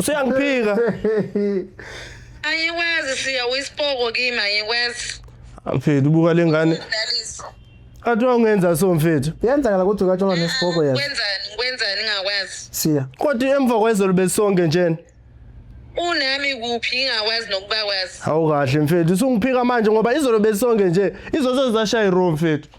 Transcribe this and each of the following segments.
Usuyangiphika. Ayikwazi siya wisipoko kimi ayikwazi. Mfethu buka lengane. Dalisa. Athi ungenza so mfethu. Yenzakala ukuthi ukatshola nesipoko yazi. Kwenzani kwenzani ngakwazi. Siya. Kodwa emva kwezolo besonke njena. Unami kuphi ngakwazi nokubakwazi. Hawu kahle mfethu usungiphika manje ngoba izolo besonke nje izozo zashaya iroom mfethu.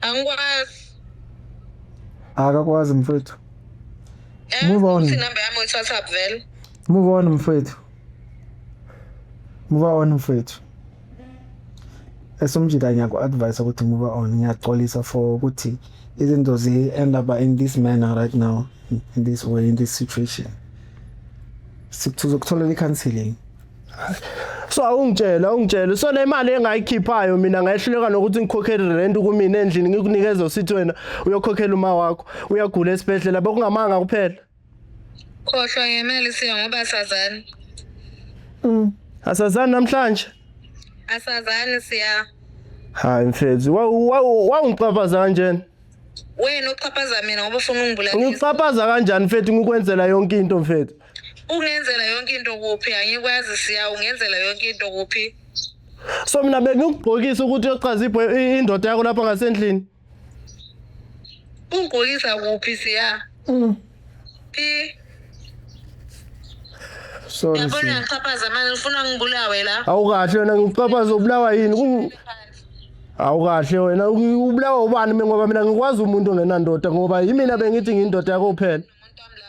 Angikwazi. Akakwazi mfethu. Eh, Move on. Number yami uyiwhatsapp vele. Move on mfethu. Move on mfethu. Esomjika ngiyaku advise ukuthi move on ngiyaxolisa for ukuthi izinto zi end up in this manner right now in this way in this situation. Sikutholela i-counseling. so awungitshela awungitshela so le mali engayikhiphayo mina ngayehluleka nokuthi ngikhokhele rent kumina endlini ngikunikeza usithi wena uyokhokhela uma wakho uyagula esibhedlela bekungamanga kuphela khohlwa ngemali siya ngoba sazani mm. asazani namhlanje asazani siya hayi mfethu wawungiqaphaza kanjena wena uqhaphaza mina ngoba ufuna ungibulala ngiqhaphaza kanjani mfethu ngikwenzela yonke into mfethu Ungenzela yonke into kuphi? Angikwazi siya ungenzela yonke into kuphi? So mina bengikugqokisa ukuthi uyochaza ibho- indoda yakho lapha ngasendlini. Ungigqokisa kuphi siya? Phi? Sorry. Yabona Siya. ngiyaxhaphaza manje ngifuna ngibulawe la. Awukahle wena ngiqaphaza ubulawa yini? Kungi- Awukahle wena uki- ubulawa ubani mina ngoba mina ngikwazi umuntu ongenandoda ngoba yimina bengithi ngindoda yakho kuphela. Umuntu wami la.